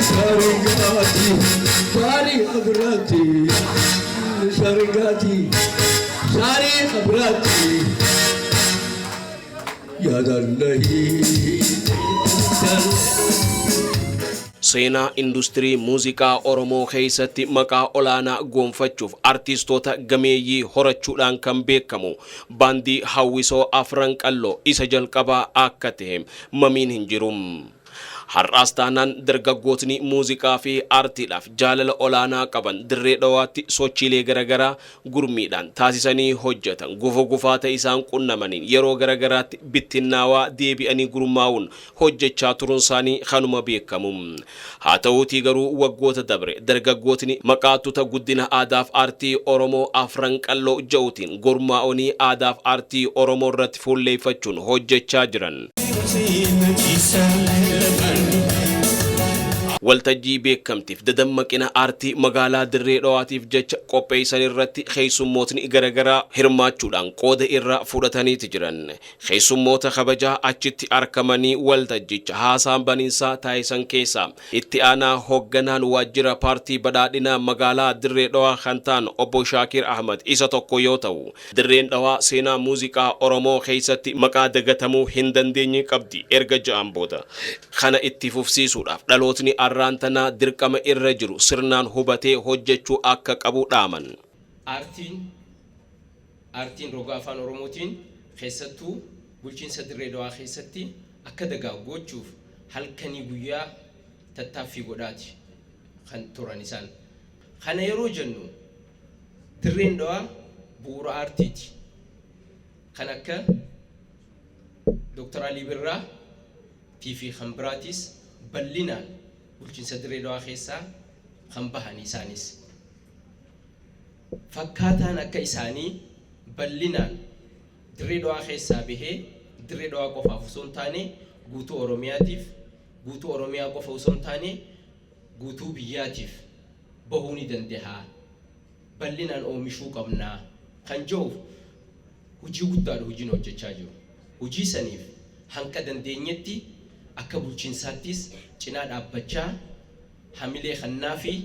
Sarigati, sari abrati, sarigati, sari abrati. Yadallahi, Seenaa industirii muuziqaa Oromoo keessatti maqaa olaanaa goonfachuuf artiistoota gameeyyii horachuudhaan kan beekamu Baandii Hawwisoo Afran Qalloo isa jalqabaa akka tahe mamiin hin jiru. Har'aas taanaan dargaggootni muuziqaa fi aartiidhaaf jaalala olaanaa qaban Dirree Dhawaatti sochiilee garagaraa gurmiidhaan taasisanii hojjetan gufuu gufaata isaan qunnamaniin yeroo garagaraatti bittinnaawaa deebi'anii gurmaa'uun hojjechaa turunsaanii kanuma beekamu. Haa ta'uutii garuu waggoota dabre dargaggootni maqaa tuta guddina aadaaf aartii Oromoo Afran Qalloo ja'utiin gurmaa'onii aadaaf aartii Oromoo irratti fuulleeffachuun hojjechaa jiran, waltajjii beekamtiif dadammaqina aartii magaalaa Dirree Dhawaatiif jecha qopheessan irratti keessummootni garagaraa hirmaachuudhaan qooda irraa fudhataniiti jiran. Keessummoota kabajaa achitti arkamanii waltajjicha haasaan baninsaa taasisan keessaa itti aanaa hogganaan waajjira paartii badhaadhinaa magaalaa Dirree Dhawaa kan ta'an obbo Shaakiir Ahmad isa tokko yoo ta'u, Dirreen Dhawaa seenaa muuziqaa Oromoo keessatti maqaa dagatamuu hin dandeenye qabdi erga ja'an booda kana itti fufsiisuudhaaf dhalootni arraan tanaa dirqama irra jiru sirnaan hubatee hojjechuu akka qabu dhaaman. Aartiin Aartiin roga Afaan Oromootiin keessattuu bulchiinsa Dirree Dawaa keessatti akka dagaagu gochuuf halkanii guyyaa tattaaffii godhaati kan turan isaan. Kana yeroo jennu Dirreen Dawaa bu'uura aartiiti. Kan akka Dr. Alii Birraa tiifi kan biraatiis bal'inaan bulchiinsa Dirree Dawaa keessaa kan bahani isaanis. Fakkaataan akka isaanii bal'inaan Dirree Dhawaa keessaa bahee Dirree Dhawaa qofaaf osoo hin taane guutuu Oromiyaatiif, guutuu Oromiyaa qofa osoo hin taane guutuu biyyaatiif bahuu ni dandaha, bal'inaan oomishuu qabna kan jedhuuf hojii guddaadha hojii nu hojjechaa jiru. Hojii saniif hanga dandeenyetti akka bulchiinsaattis cinaa dhaabbachaa, Hamilee kannaafii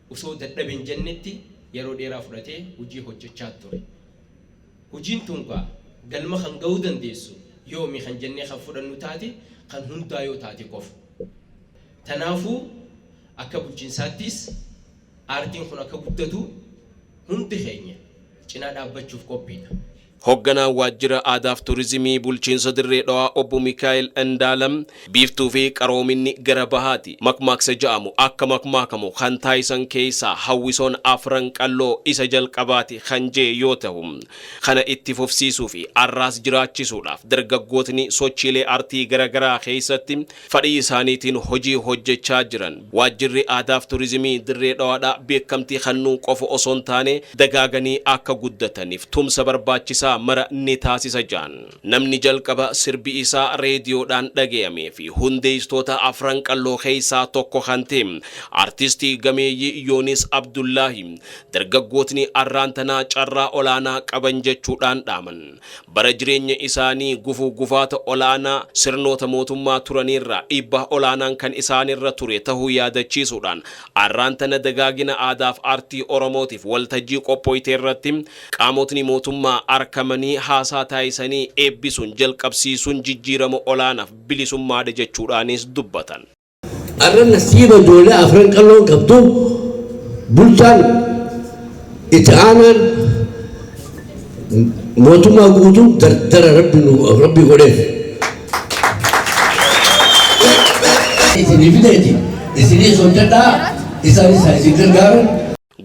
osoo dadhabe hin jennetti yeroo dheeraa fudhatee hojii hojjechaa ture. Hojiin tun kaa galma kan gahuu dandeessu yoomi kan jennee kan fudhannu taate kan hundaa yoo taate qofa. Tanaafuu akka bulchinsaattiis aartiin kun akka guddatu hundi keenya cinaa dhaabbachuuf qophiidha. Hogganaan Waajjira Aadaaf Turizimii Bulchiinsa Dirree Dhawaa Obbo Mikaa'el Indaalam, Biiftuufi qaroominni gara bahaati makmaaksa ja'amu akka makmaakamu kan taasisan keessaa hawwisoon Afran Qalloo isa jalqabaati kan je'e yoo tahu, kana itti fufsiisuufi arraas jiraachisuudhaaf dargaggootni sochiilee artii garagaraa keessatti fadhii isaaniitiin hojii hojjechaa jiran Waajjirri Aadaaf Turizimii Dirree Dhawaadhaa beekkamtii kannuu qofa osoo hin taane dagaaganii akka guddataniif tumsa barbaachisaa mara ni taasisa jaan. Namni jalqaba sirbi isaa reediyoodhaan dhagayamee fi hundeesstoota Afran Qalloo keessaa tokko kan ta'e Artistii gameeyyii Yoonis Abdullaahi dargaggootni arraan tanaa carraa olaanaa qaban jechuudhaan dhaaman. Bara jireenya isaanii gufuu gufaata olaanaa sirnoota mootummaa turaniirraa dhiibbaa olaanaan kan isaanirra ture tahuu yaadachiisuudhaan, arraan tana dagaagina aadaaf aartii Oromootiif waltajjii qophooyteerratti qaamotni mootummaa arkamanii haasaa taasisanii eebbisuun jalqabsiisuun jijjiirama olaanaaf bilisummaadha jechuudhaanis dubbatan. Arra nasiiba ijoollee afran qalloon qabdu bulchaan itti aanaan mootummaa guutuu dardara rabbi nu rabbi godheef. Isinii fideeti isinii sochadhaa isaan isaa isin gargaaran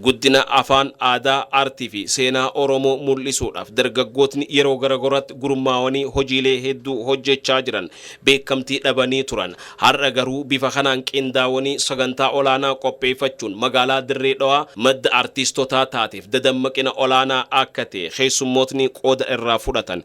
Guddina afaan, aadaa, aartii fi seenaa Oromoo mul'isuudhaaf dargaggootni yeroo garagoraatti gurmaawanii hojiilee hedduu hojjechaa jiran beekamtii dhabanii turan. Har'a garuu bifa kanaan qindaawanii sagantaa olaanaa qopheeffachuun magaalaa Dirree Dhawaa madda artiistotaa taateef dadammaqina olaanaa akka ta'e keessummootni qooda irraa fudhatan